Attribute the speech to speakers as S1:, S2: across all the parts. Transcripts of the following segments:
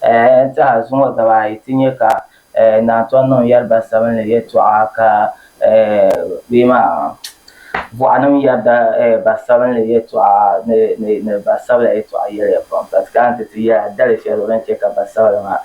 S1: N tɛha zuŋɔ daba ayi ti nyɛ ka naa tɔn niŋ yariba sabinli yɛtɔɣa ka bɛ maa bɔɣinim yarida ba sabinli yɛtɔɣa ni ba sabila yɛtɔɣa yɛliya pam ka ti kana ti ti yɛra dali shɛli zuɣu din chɛ ka ba sabila maa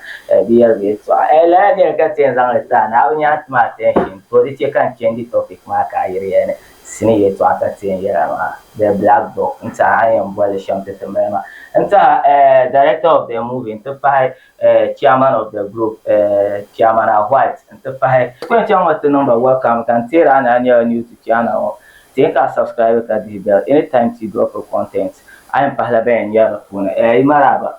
S1: bi yari bɛ yɛtɔɣa. Lala nɛli ka ti yɛn zaŋ li ti a ni a bi nya n ti ma attention to di chɛ ka n change topic maa ka a yiri ya ni. sini yɛtɔɣa ka ti yɛn yɛra maa the black book n tiɛha a ni yɛn boli shɛm ti ti mali maa n tiɛha eh director of the movie n ti pahi eh chairman of the group eh chairman a white n ti pahi ti ku yɛn chaŋ ŋɔ ti niŋba welcome ka n teeri a ni a nyɛla new to channel ŋɔ ti yɛn ka a subscribe ka dihi bell anytime ti drop content a yɛn pahila ban yɛn nyɛri di puuni eh yi maraaba.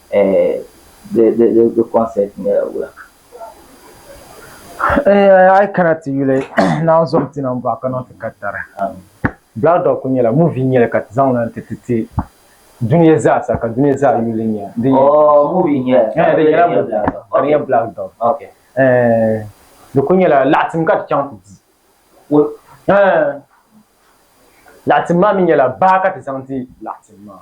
S1: di concept
S2: nyɛla wula. A yi kana ti yuli Naan Zom Tinim Buɣa ka niŋ ti ka tari. Black Dog kuli nyɛla movie n-nyɛli ka ti zaŋ li n-ti ti ti dunia zaa sa ka dunia zaa yuli li nya. Di nyɛla Black Dog.
S1: Di kuli nyɛla
S2: laɣitim ka ti chaŋ ti di. Laɣitim maa mi nyɛla baa ka ti zaŋ di laɣitim maa.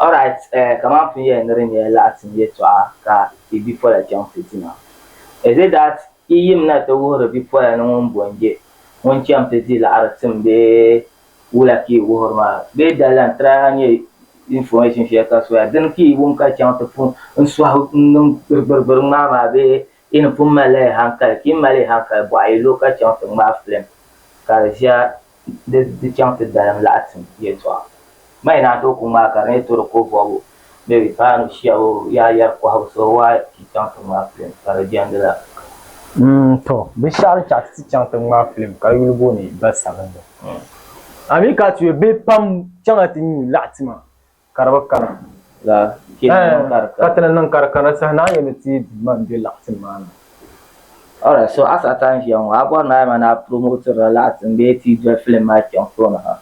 S1: All right, eh, kaman pun yɛli ni di nyɛla laɣisim yɛtɔɣa ka i bipola chaŋ fitina. Is it that yi yim na ti wuhiri bipola ni ŋun bo n-je ŋun cham ti di laɣiri tim bee wula ka yi wuhiri maa? Bee dali n try a nya information shɛli ka soya dini ka yi wum ka chaŋ ti pun n sɔhi n niŋ gbirigbirigbiri ŋmaa maa bee Ti ni pun mali la yi hankali, ti yi mali yi hankali bɔɣi yi lo ka chaŋ ti ŋmaai filim ka di ʒiya di di chaŋ ti dalim laɣitim yɛltɔɣa. Ma yi naan tooi ku ŋmaai ka di ni tɔri ko bɔbu bɛ paanu shiɛbu yaa yɛri kɔhibu so waa ti chaŋ ti ŋmaai filim ka di jɛndi la ka.
S2: Tɔ! Binshɛɣu din chaɣ ti ti chaŋ ti ŋmaai filim ka yuli booni Basabinli. Amin ka tuya bihi pam chaŋla ti nyu laɣitima ka di bi kana.
S1: Ɛɛh, ka
S2: ti ni niŋ ka di kana saha ni a yɛn ni teei Duuma m-be laɣitin maa ni. Alright,
S1: so a Satan n-ʒiya ŋɔ, a bɔri ni a yɛma ni a promotirila laɣitin bee ti yi doli film maa chaŋ tooni ha?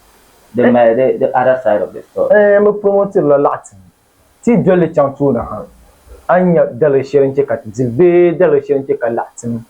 S1: Di mali di di other side of the story. Ɛɛh, n bi promotirila
S2: laɣitin, ti yi doli li chaŋ tooni ha, a ni nya daliri shɛli n-chɛ ka ti dili bee daliri shɛli n-chɛ ka laɣitin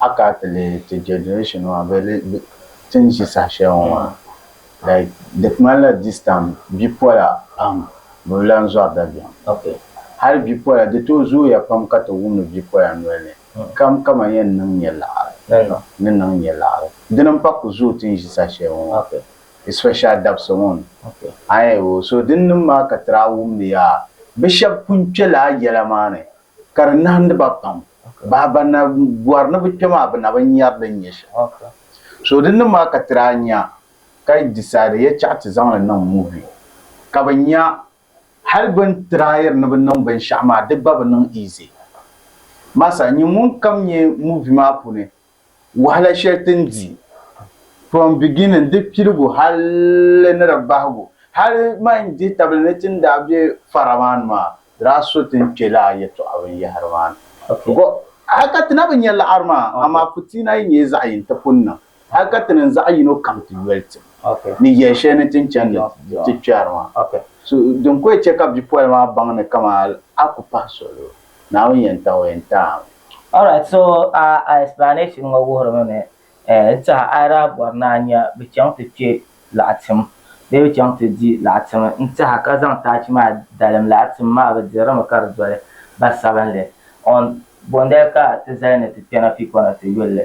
S3: A ka ti lihi ti generation maa bɛ li ti ni ʒi saha shɛli ŋɔ maa like di ŋmanila this time bipola pam bɛ bi lan zɔri dabiɛm hali
S1: bipola
S3: di tooi zooya pam ka ti wumdi bipola noli ni kam kaman yɛn niŋ nyɛ laɣiri ni niŋ nyɛ laɣiri dini m-pa ku zooi ti ni ʒi saha shɛli ŋɔ maa especially
S1: dabisi
S3: ŋɔ ni aai
S1: oo so din
S3: niŋ maa ka ti daa wumdi yaa bɛ shɛba pun kpe lala yɛla maa ni ka di nahindi ba pam. Bahi ban na bɔri ni bɛ kpe maa bɛ na bi nyari din nyɛ shɛli. So
S1: di niŋ maa
S3: ka ti daa nya ka decide yɛltɛɣa ti zaŋ li niŋ movie ka bɛ nya hali bɛ ni tryiri ni bɛ niŋ binshɛɣu maa di gba bi niŋ easy. Masa nyin ŋun kam nyɛ movie maa puuni Wahala shɛli ti ni di from beginning di piligu hali ni di bahigu hali man dihi tabili ni ti ni daa be fara maa ni maa di daa so ti ni kpe lala yɛltɔɣa binyɛhiri maa ni because
S1: hali ka ti
S3: na bi nya laɣiri maa amaa fitiina yi nyɛ zaɣ yini ti pun niŋ hali ka ti niŋ zaɣ yino kam ti yoli ti ni yɛli
S1: shɛli ni ti ni
S3: chani ni ti kpɛri maa so din
S1: ko yi chɛ
S3: ka bipoli maa baŋ ni kaman a ku pahi soli o. Naawuni yɛn taɣi o yɛn taɣi. Alright so
S1: a a explanation ŋɔ wuhirimi ni eh n tɛha a yi daa bɔri ni a nya bɛ chaŋ ti kpe laɣitim bee bɛ chaŋ ti di laɣitim n tɛha ka zaŋ taachi maa dalim laɣitim maa bɛ dirimi ka di doli ba sabinli on bondali ka ti zali ni ti kpɛna fii kɔna ti yuli li.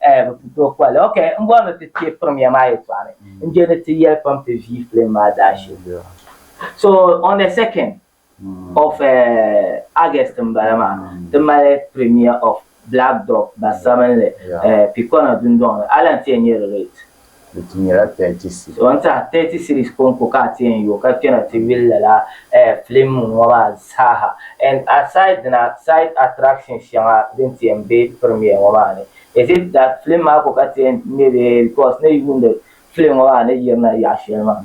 S1: Eh, bɛ pun tooi kpɔhili. Ok, n bɔri ni ti kpe pirim ya maa yɛltɔɣa ni, n je ni ti yɛli pam ti vii filim maa daashee. So, on the second of eh, August m-bala maa, ti mali premiere of Black Dog, Basabinli, eh, Pikɔna dundɔŋ ni. A lan ti yɛn nyari rate? di ti nyɛla
S3: thirty series. So n tiɛha thirty
S1: series konko ka a ti yɛn yo ka kpɛna ti yuli lala eh film ŋɔ maa zaaha and aside dina side attractions shɛŋa din ti yɛn be premiere ŋɔ maa ni is it that film maa ko ka ti yɛn ŋmɛ bee because ni yi yuuni film ŋɔ maa ni yirina yaɣa shɛli maa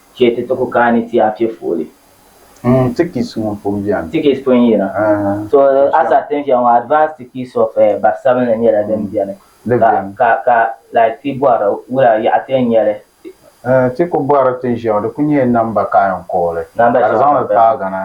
S1: Chɛ ti ti ku kaani ti a piɛ fooli. Umm tickets
S3: ŋɔ pun bɛni. Tickets pun yina.
S1: To a saha tin viɛŋ ŋɔ advance tickets of barisabinli nyɛla din bɛni. Di bɛni. Ka ka like ti bɔri wula yaɣa ti yɛn nyɛli. Ti ku
S3: bɔri tin viɛŋ di ku nyɛla number ka a yɛn call li. Number shɛŋa. Ka di zaŋ li
S1: paagana.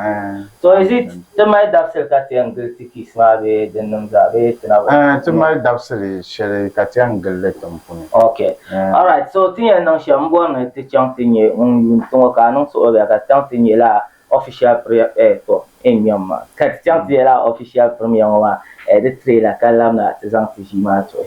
S3: So is it
S1: ti mali dabisili ka ti yɛn gili Tikis maa bee dinnim zaa bee ti na bi. Ɛɛh ti mali dabisili
S3: shɛli ka ti yɛn gili li tiŋ puni. Ok alright
S1: so ti ni yɛn niŋ shɛm n bɔri ni ti chaŋ ti nyɛ ŋun yuuni ti ŋɔ ka a niŋ suhuribihi ka ti chaŋ ti nyɛ lala official priya ɛɛh to in nyam maa ka ti chaŋ ti nyɛ lala official pirimiya ŋɔ maa ɛɛh di trailer ka labina ti zaŋ ti ʒii maa tuhi.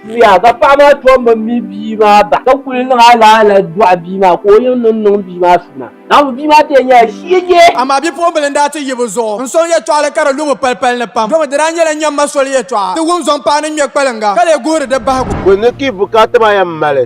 S1: Zuya ka paɣa maa tom bi mi bia maa bahi ka kuli niŋ alaala dɔɣi bia maa ka o yiŋ ni niŋ bia maa suna. Naawuni bia maa tee nyɛla shege. Amaa bipuɣimbila n daa
S4: ti yi bi zuɣu n sɔŋ yɛltɔɣili ka di lu mi palipali ni pam domi di daa nyɛla nyam ma soli yɛltɔɣa ti wum zɔŋ paɣa ni ŋmɛ kpaliŋga ka lee guhiri di bahigu. Bɛ ni ki bukaata
S5: maa yɛn mali.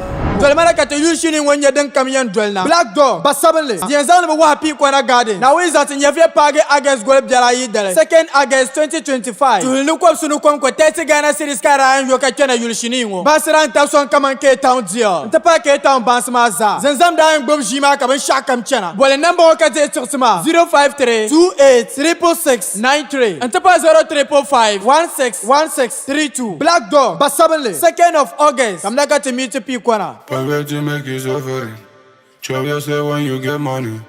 S6: Dolimana ka ti
S4: yuli shini ŋɔ nyɛ din kam yɛn doli na. Black Door, Ba Sabinli, di yɛn zaŋ ni bi wahi pii kɔna gaadin Naawuni zaŋ ti Nyɛvili paagi August goli biɛri ayi dali, 2nd August 2025. Tuuli ni kɔbisi ni kom ko tɛsi Ghana cedis ka Ryan yo ka kpɛna yuli shinii ŋɔ. Bansi daa n-tabi sɔŋ kaman Cape Town Deal n-ti pahi Cape Town bansi maa zaa. Zimzam daa yɛn gbubi ʒii maa ka binshɛɣu kam chana. Boli namba ŋɔ ka dihi tiɣisi maa, 053 28 666 93 n-ti pahi 0 345 16 16. 3-2, Black Dog, Ba Sabinli, Second of August, Kamina ka ti mi ti pii kɔna. Forget to make you
S6: suffering Chop yourself when you get money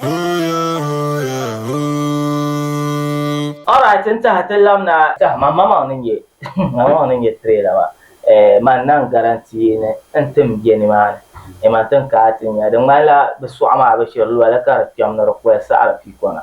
S6: Oh yeah, oh yeah, ooh Alright n tahi
S1: ti lam na. Tah man ma maŋ ni nyɛ ma maŋ ni nyɛ trailer maa eh man nan guarantee ni n tin bɛ ni maa ni eh man tin kaai ti nya di ŋmanila bi suɣa maa bi shiri lɔli ka di kpɛm ni di koli saɣiri pii kɔna.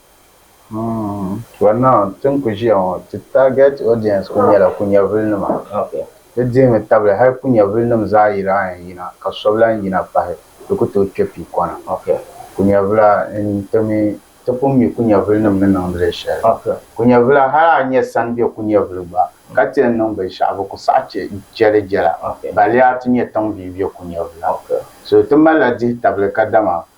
S1: For
S3: now ti ni ku ʒiya ŋɔ ti target audience kuli nyɛla kunyɛvuli nima. Di dihimi
S1: tabili
S3: hali kunyɛvuli nim zaa yi daa yɛn yina ka so bi lahi yina pahi di ku tooi kpɛ pii kɔna. Kunyɛvula n ti mi ti pun mi kunyɛvuli nim ni niŋdi li shɛli. Kunyɛvula
S1: hali
S3: a nyɛ sani bɛ kunyɛvuli gba ka ti yɛn niŋ binshɛɣu bi ku saɣi chɛ jɛli jɛla. Balli a ti
S1: nyɛ tiŋ
S3: bia bɛ kunyɛvula. So ti mali
S1: la
S3: dihi tabili kadama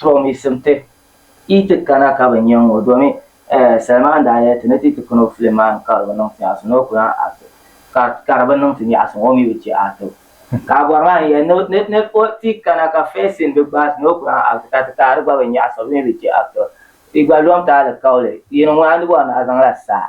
S1: To mi sim ti, yi ti kana ka bi nya ŋɔ domi eh Salman daa yɛli ti ni ti ti kuni o filim maa ni ka di bi niŋ fiɛɣisi ni o ku lan act ka ka di bi niŋ ti miɛɣisi ŋɔ o mi bi chɛ act o ka a bɔri maa ni yɛli ni ni ni o ti kana ka first scene bi gbaai ti ni o ku lan act ka ti ka di gba bi miɛɣisi o mi bi chɛ act o yi gba lɔm ti alikauli yini ŋuna ni bɔri ni a zaŋla saa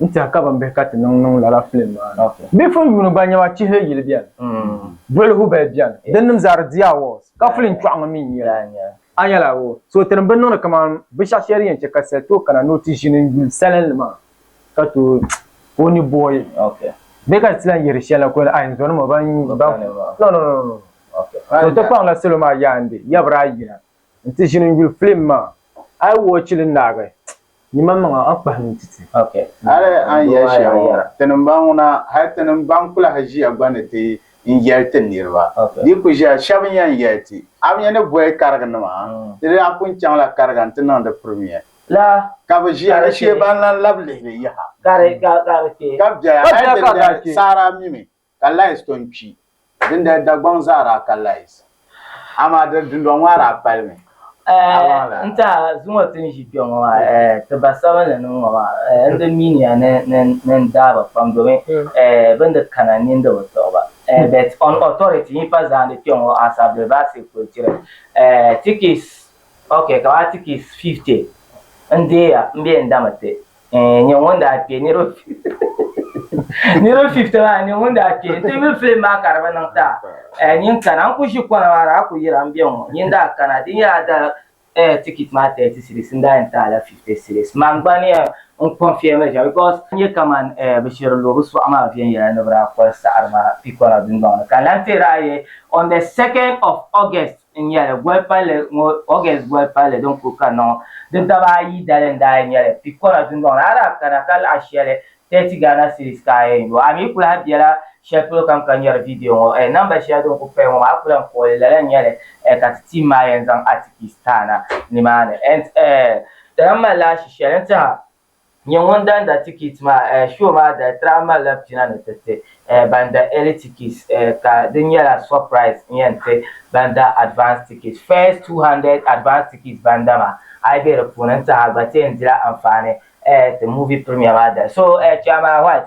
S2: n tiɛhi ka ban bihi ka ti niŋ niŋ lala filim maa ni. Bɛ fun yuuni ba nyɛma chihili yili bɛni, duɣili hubali bɛni, din nim zaa di di awards, ka filim chɔɣu ŋɔ mi n nyɛ li. A nya la o. So ti ni bi niŋdi kaman binshɛɣu shɛli din yɛn chɛ ka sali tooi kana ni o ti ʒini n yuli salinli maa ka tooi ka o ni boi bɛ ka di ti lan yihiri shɛli la ka o yɛli, Ai n zɔnim o ban yuun baŋ filim maa. No, no, no, no, no. So ti kpaŋ la salo maa yaandi, yabira a yina n ti ʒini n yuli filim maa. A yi wɔchi li naagi. Yimaŋmaŋa a kpahi ni ti ti. Hali a ni yɛli shɛli ŋɔ,
S3: tinim-baŋ ŋuna, hal tinim-baŋ kulahi ʒiya gba ni ti n yɛli ti niriba. Di ku ʒiya shɛb n yɛn yɛli ti, A mi ni boli kariginima? Di daa pun chaŋla kariga nti niŋdi pirimia. Ka bɛ ʒiya di shee ban lan lab lihiri yaha. Ka bɛla ka di kpe. Saara mimi. ka Lais ton kpi. Dindali Dagbaŋ zaa daa ka Lais, amaa di dundɔŋ maa daa palimi. Ɛɛ n
S1: taha zuŋɔ ti ni ʒi kpe ŋɔ maa, ɛɛ ti ba sabinli ni ŋ-ŋɔ maa, ɛɛ n di min ya ni ni n daai ba pam domi ɛɛ bɛ ni di kana ni n di bi tuɣi ba. Ɛɛ but on authority yi pa zaandi kpe ŋɔ as a Bilbaasig Kulturi ɛɛ tikis ok kamani tikis 50 n deei ya m-be n dami ti. Eh, nyɛ ŋun daa kpe niriba niriba fifty maa nyɛ ŋun daa kpe nti yuli filim maa ka di bi niŋ ta eh, nyin kana n ku ʒi kɔna maa daa ku yira n be ŋɔ nyin daa kana di nyɛla da eh, tikit maa thirty cedis n daa yɛn taai la fifty cedis man gba ni eh, n confirm li shɛm because n nyɛ kaman eh, bi shiri lo bi sɔɣu maa viɛnyɛla ni bi daa koli saɣiri maa Pikɔna dundɔŋ ni ka n lan teeri a yɛi on the second of August n nyɛli goli palli ŋɔ August goli palli din kuli kanna ŋɔ di daba ayi dali n daa yi nyɛli Picora dundɔŋ ni a daa kana ka laɣi shɛli 30 Ghana cedis ka a yɛn yo a mi ku lahi bela shɛli polo kam ka nyari video ŋɔ eh number shɛli din kuli paya ŋɔ maa a ku lan kpuɣili lala n nyɛli eh ka ti team maa yɛn zaŋ articles taana nimaani eh eh ti lan mali lahishi shɛli n tihi a. Nyɛ ŋun daa da tikit maa, eh, show maa daa daa malila pina ni ti ti, eh, ban da early tickets, eh, ka di nyɛla surprise n-yɛn ti ban da advance tickets. First two hundred advance tickets ban da maa, a yi be di puuni n-tiɛhi a gba ti yɛn dila anfaani, eh, ti movie premiere maa dali. So, eh, Chairman White,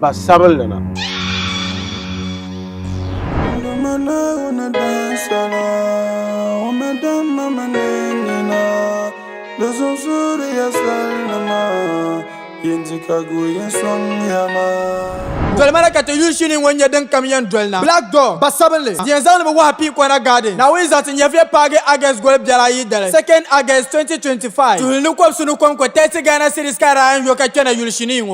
S5: Pa
S6: sabinli na. Dolima ni ka ti
S4: yuli shini ŋɔ nyɛ din kam yɛn doli na. Black Door, Ba sabinli, yɛn zaŋdi bi wahu pii Kɔna Garden, Naawuni zaɣisi nyɛviya paagi August goli biɛri ayi dali, 2nd August 2025. Tuhi ni kɔbisi ni kɔŋko Tɛsi Ghana City Skyline yo ka kpɛna yuli shinii ŋɔ.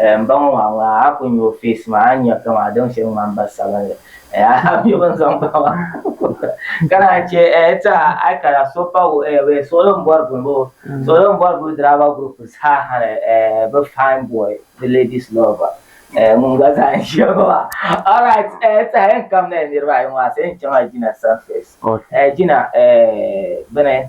S1: Eh, m ba ŋɔ maa ŋun a a ku nya o face maa a ni nya kaman a daŋ sheli ŋman ba sabinli eh a a mi bini zaŋ ba maa ka naan che eh ti a a kara so pa wu eh wee suɣili n bori bini boo suɣili n bori bini driver group ha hali eh bi fine boy bi ladies lover eh ŋun gba zaa n ʒiya ŋɔ maa alright eh ti a yɛn kamina eh niriba ayi ŋɔ a sa yɛn chaŋ a jina surface eh jina eh bini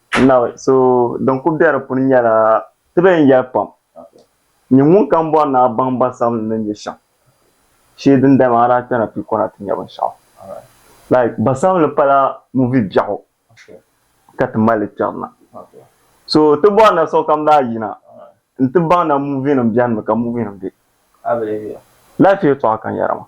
S7: Naawuni. So din ku be di puuni nyɛla ti bee n-yɛli pam, Nyini ŋunkam bɔri ni a baŋ ba sam ni ni nyɛ shɛm, shee din dama a daa kpɛna pii kɔna ti nya binshɛɣu. Like, ba sam ni pala movie biɛɣu ka ti mali li kpɛri na. So ti bɔri na sokam daa yina n-ti baŋ na movie nim bɛni mi ka movie nim be. Life yɛltɔɣa ka n yɛra maa.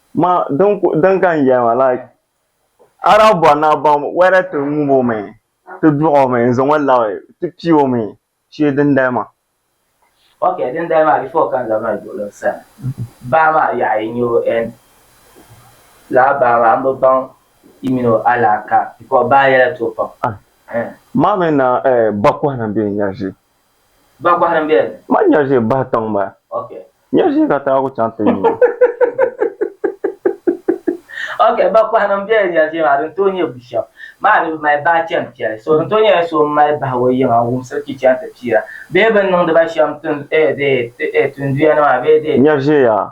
S7: Ma din ku din ka n yɛli ma like a daa bɔri ni a baŋ whether ti ŋub o mi ti duɣ o mi n zaŋ o labi ti pii o mi shee dindali maa. Ok
S1: dindali maa before ka n zaŋ mali duɣili n sani baa maa yaɣa yi nya o and lala baa maa m bi baŋ yi mini o alaaka because baa yɛla ti o pam. Ma mi
S7: na eh bakɔhili m-be n yɛli shee. Ba kɔhiri
S1: m-be? Ma nyari ʒe bahi
S7: tiŋ ma. Ok. Nyari ʒe
S1: ka taagu
S7: chaŋ ti nyu.
S1: Ok, ba kɔhiri m-be nyari ʒe maa din tooi nyɛ bushɛm maa ni bi mali bahi chani piɛli so din tooi nyɛla so m-mali bahi o yiŋa n-wumsiri kpi chaŋ ti piira bee bɛ ni niŋdi ba shɛm tin eh dee eh tinduya ni maa bee dee. Nyari ʒe yaa.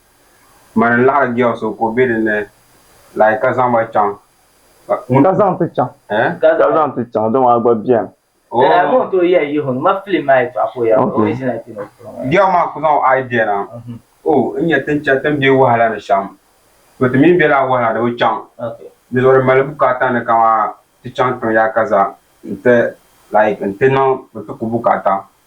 S8: Mani n-laɣiri girl so ka o be din ni like ka zaŋ ba chaŋ. Ka zaŋ
S7: ti chaŋ. Eh? Ka zaŋ ti chaŋ dama a gba beni. Oh. Dala ka o tooi
S1: yɛli Yihun ma film maa yɛtɔɣa ka o yɛra o mi ʒila kpini o bi piri ŋɔ ya. Girl maa ku zaŋ o
S8: eye bɛ na. Oh, n nya ti ni chani ti ni be wahala ni shɛm. To ti mi bela wahala ni bi chaŋ. Ok. Dinzuɣu di
S1: mali bukaata
S8: ni kaman ti chaŋ tiŋ yaakaza n-ti like n-ti niŋ n-ti ku bukaata.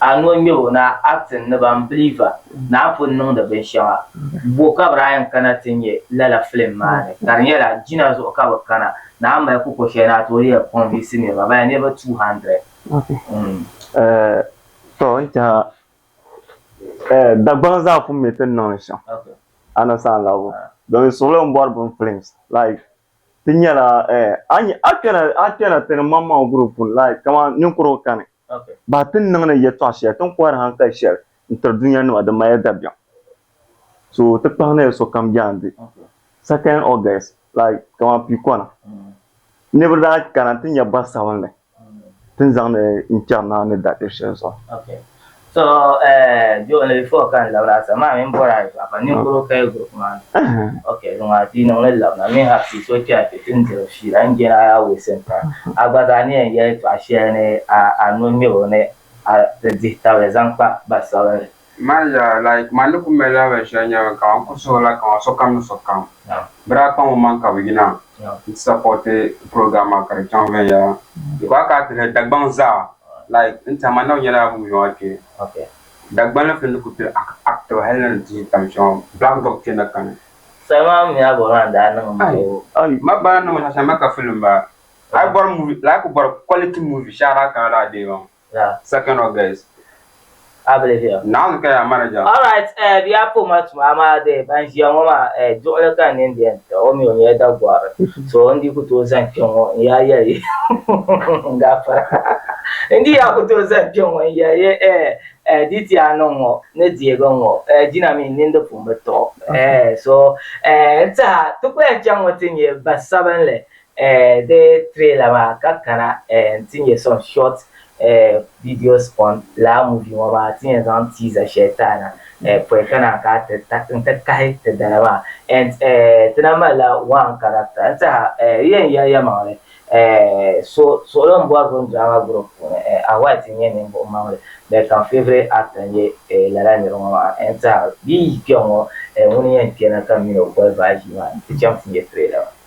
S8: a ni o ŋmɛbo ni a acting ni ban believer ni a pun niŋdi binshɛŋa bo ka bɛ daa yɛn kana ti nya lala film maa ni ka di nyɛla jina zuɣu ka bɛ kana ni a mali kuko shɛli ni a tooi yɛn convince niriba bala niriba
S7: 200. To n tɛha Dagbaŋ zaa pun mi ti ni niŋ shɛm a ni saanlabbu domin suɣilo m-bɔri bini films like. Ti nyɛla a kpɛna ti ni maŋmaŋ group puuni like kamani ninkurigu kani bahi ti ni niŋ ni yɛltɔɣa shɛli ti ni kɔhiri hankali shɛli n tiri dunia nima di mali dabiɛm so ti kpahi ni sokam jaandi second August like kamani piikɔna niriba daa kana ti nya bɔri sabinli Tin zaŋdi n
S1: kpɛri
S7: naa ni daa kpɛbu shɛli zuɣu. Okay. So
S1: eh jo ni before ka n labira sa maa mini bɔra ayi paɣa ka ninkuro kaya group maa ni. Okay di maa bia niŋli labina mi ha pii so kpɛra kpɛ ti n diri fiila n jɛn a yaa waste n time a gba zaa ni yɛn yɛli tɔɣa shɛli ni a a no ŋmɛbo ni a ti dihi tabili zaŋ kpa ba sabinli. Maa zaa like
S9: man ni ku mali lahabali shɛli nyɛ ka man ku suhi like man sokam ni sokam bɛ daa kpaŋ man ka bɛ yina n-ti sapoti program maa ka di chaŋ viɛnyɛla di ku a ka a ti hɛli Dagbaŋ zaa like n tɛha man na bi nyɛla bɛ ŋun a kpe
S1: Dagbanli fini di
S9: ku kpiri active hali ni di ti yi tam shɛm Black Dog kpe na kani. Soli maa mi a bɔri maa daa niŋ ma
S1: o. Ayi ma bana niŋ ma
S9: shɛm ma ka film ba a yi bɔri movie like bɔri quality movie shɛhi daa kana la a deei ba maa. Yeah. Second of
S1: guys.
S9: A
S1: believe you. Naɣizi ka yaa manager.
S9: All right, eh, bia
S1: po ma tuma amaa de ban ʒiya ŋɔ maa eh, duɣili ka n nini di yɛn tira o mi o nyɛla Dagɔri so n di ku tooi zani kpɛ ŋɔ n yaa yɛli n gafara n di yaa ku tooi zani kpɛ ŋɔ n yɛli ye eh, eh, di ti yaa niŋ ŋɔ ni deegi ŋɔ eh, jina mi n nini di pun bi tɔɣi eh, so eh, n tiha ti ku yɛn chaŋ ŋɔ ti nyɛ ba sabinli Di trailer maa ka kana nti nya some short videos on lala movie ŋɔ maa ti yɛn zaŋ teaser shɛli taana pɔi ka naan ka ti nti kahi ti dala maa and ti na malila one character n-tiɛha yi yɛn yɛli yɛlimaŋli suɣulim bɔrigu drama group puuni a White n-nyɛ ninvuɣ maŋli but ka m favourite actor n-nyɛ lala nir ŋɔ maa n-tiɛha bɛ yi yi kpɛŋ ŋɔ ŋuni n-yɛn kpɛna ka m min o boli baa ʒii maa nti chaŋ ti nya trailer maa.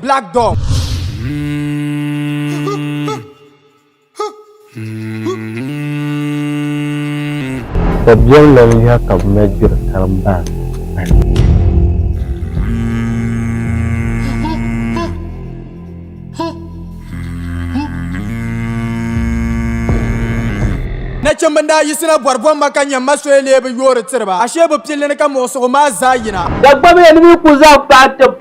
S4: Black Dog.
S5: Dabiɛm lan yiha ka bɛ na gbiri karimbahi bahi.
S4: Nachimba n-daa yiɣisina bɔri buɣim ma ka nya m ma soya leei bɛ yoori tiri ba, ashee bɛ pil li ni ka muɣisigu maa zaa yina. Dagbamya ni mi ku
S10: zaŋ paai ti.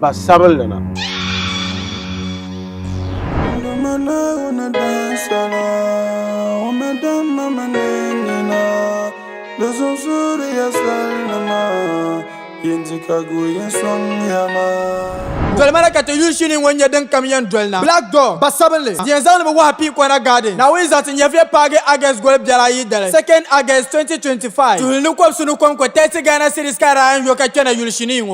S5: Pa
S6: sabinli na. Dolimi na ka ti
S4: yuli shini ŋɔ nyɛ din kam yɛn doli na. Black Door, Ba sabinli, yɛn zaŋdi mi wahu pii Kɔna Garden, Naawuni zaɣisi nyɛviya paagi August goli biɛri ayi dali, 2nd August 2025. Tuhi ni kɔbisi ni kom ko Taxi Ghana Series ka a daa yɛn yo ka kpɛna yuli shinii ŋɔ.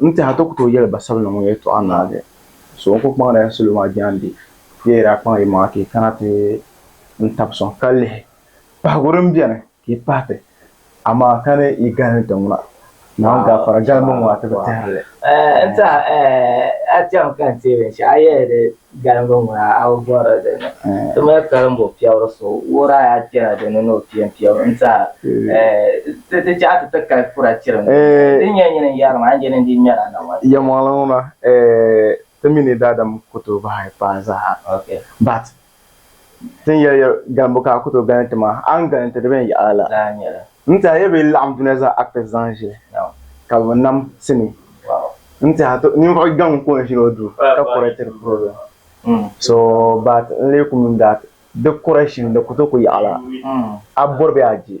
S2: N-teha ti ku tooi yɛli Basabinli ŋɔ yɛltɔɣa naagi, so n-ku kpaŋdila salo maa jaande bee yi daa kpaŋ yi maŋa ka yi kana ti n tab sɔŋ ka lihi pahigu din beni ka yi pahi ti, amaa ka ni yi galimi ti ŋuna, Naawuni gaafara galimi ŋɔ a ti bi tehiri li.
S8: N-teha a chaŋ ka n teei binshɛɣu a yɛli di. Galiŋga ŋun a a bi bɔri di ni ti mali karimbo piɛbiri so wuhir a yaa kpɛra di ni ni o piɛ m-piɛbu n-ti a ti ti chahi ti ti kali kura chiriŋ din nyɛ nyini n-yɛrim a n-jɛli n-di ŋmɛr a naŋɔnsi. Yɛlmaŋli ŋuna
S2: ti mi ni daadam ku tooi bahi paai zaa but Tin yɛli ya galimbu ka a ku tooi galinti maa, a ni galinti di bɛn yaɣa la daa nyɛla. N tɛha ya bɛ yi laɣim dunia zaa actors zaŋ ʒili ka bɛ nam sini. N tɛha to ninvuɣ gaŋ ka o ni ʒini o duu ka correctiri problem. So but n leei ku min dat di correction di ku tooi ku yaɣa la a bɔri bɛ a je.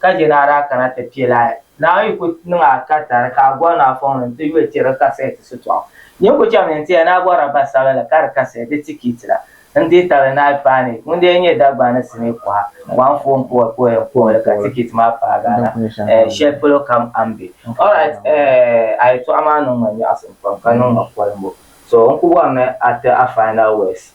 S8: ka je ni a daa kana ti piɛ lahi. Naawuni yi ku niŋ a ka tari ka a bɔri ni a fɔŋ ni n ti yuli tiri kasɛɛti sitɔɣu, nyin ku chɛmi ni n ti ya ni a bɔrila ba sabinli ka di kasɛɛti di tikiiti la n deei tabili ni a paai ni ŋun daa nyɛ Dagbani ni sinii kuɣa ŋɔ anfooni puhiri puhiri n kuhiri li ka tikiiti maa paagi a la ɛɛh shɛli polo kam a ni be. Alright ɛɛh a yɛltɔɣa maa niŋ ma nyaɣisim pam ka niŋ ma kolimbo so n ku bɔri ni a ti a final words.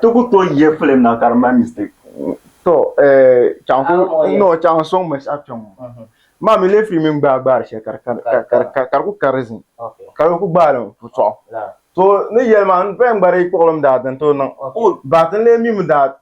S8: Ti ku tooi yihi
S7: filim na ka di mali mistake. Tɔ
S2: eeh noo chaŋ n sɔŋ binshɛɣu kpɛŋŋɔ maa mi leefiri mini gbaai gbaari shɛli ka di ku ka di zim ka di ku gbaai
S8: li n-ku
S2: tɔɣu. To ni yɛli maa n paya n gba di yi kpuɣilim daa dini tooi niŋ but n lee mi mi daa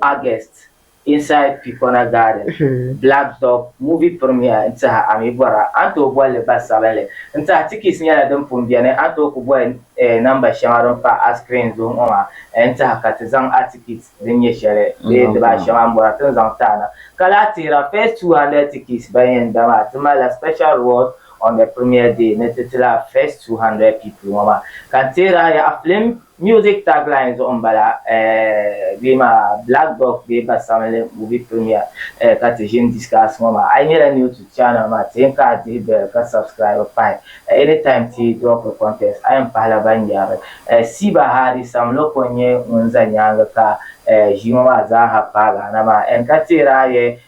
S8: August, Inside Picona Garden, Black Dog Movie Premiere n-tihi a mi bɔra a ni tooi boli li ba sabinli n-tihi tikis nyɛla din pun beni a ni tooi ku boli namba shɛŋa din pa a screen zuɣu ŋɔ maa n-tihi ka ti zaŋ a tikit din nyɛ shɛli bee dibaa shɛŋa m-bɔra ti ni zaŋ ti a na ka lahi teera first 200 tikits ban yɛn da maa ti malila special reward on the premiere day ni ti tila first 200 people ŋɔ maa ka n teeri a yaha film Music tagline zuɣu n bala eh bee maa black dog bee basabinli movie premiere eh ka ti ʒini discuss ŋɔ maa a yi nyɛla new to channel maa ti yɛn ka a dihi bell ka subscribe pahi eh any time ti drop ri content a yɛn pahila ban yɛri eh Siba Hadi Sam Loko n nyɛ ŋun za nyaangi ka eh ʒii ŋɔ maa zaa ha paagi a na maa en ka teeri a yɛ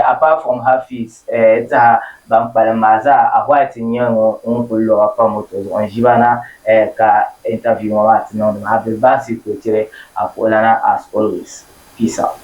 S8: Apart from her fees saha ban kpalim maa zaa a white n nyɛ ŋun kuli loba pa moto zuɣu n ʒi ba na ka interview ŋɔ maa ti niŋdi maa Abdul Basit kuli tiri Akoolana as always peace out.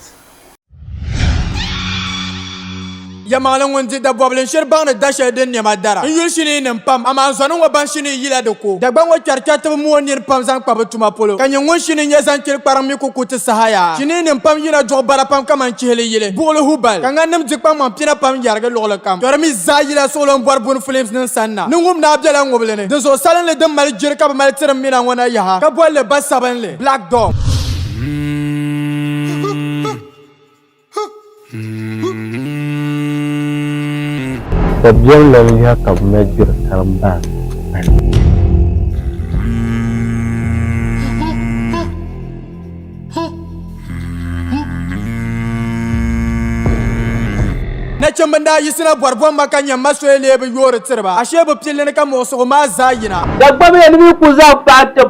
S4: Yɛlimaŋli ŋun di dabɔbili n shiri baŋ ni da shɛli din nɛma dara n yuli shinii nim pam amaa zɔni ŋɔ baŋ shinii. yila di ko. Dagbaŋ ŋɔ kpɛri kpɛritiba mooi nir pam zaŋ kpa bɛ tuma polo, ka nyɛ ŋun shi ni nya zaŋ kpiri kpariŋ mi ku ku ti saha yaa. Chiniinim pam yina duɣi bara pam kaman chihili yili, buɣili hubal, ka ŋaninim di kpaŋmaŋ pina pam yɛrigi luɣili kam. Kpɛri mi zaa yila suɣulombɔribuni filimsnim sanna. Niŋum daa bela ŋubili ni. Dinzuɣu salinli din mali jiri ka bɛ mali tiri m mina ŋɔ na yaha, ka boli li Basabinli, Black Dog.
S5: Dabiɛmla ni yaha ka bɛ mali gbiri karim bahi bahi.
S4: Nachimba n daa yiɣisina bɔri bɔ ma ka nya ma soya leei bɛ yoori tiri ba, ashee bɛ pilli ni ka muɣisigu maa zaa yina. Dagbamya ni bɛ yi ku
S10: zaŋ paai tib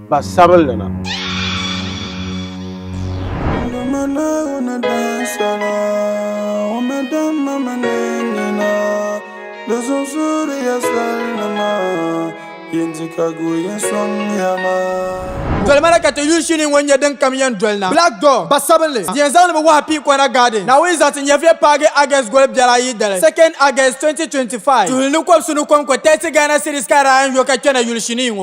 S5: Pa
S6: sabinli na. Dolimi na ka ti
S4: yuli shini ŋɔ nyɛ din kam yɛn doli na. Black Door, Ba sabinli, yɛn zaŋdi mi wahu pii Kɔna Garden, Naawuni zaɣiti nyɛviya paagi August goli biɛri ayi dali, 2nd August 2025. Tuhi ni kɔbisi ni kom ko Tɛsi Ghana City Skyline yo ka kpɛna yuli shinii ŋɔ.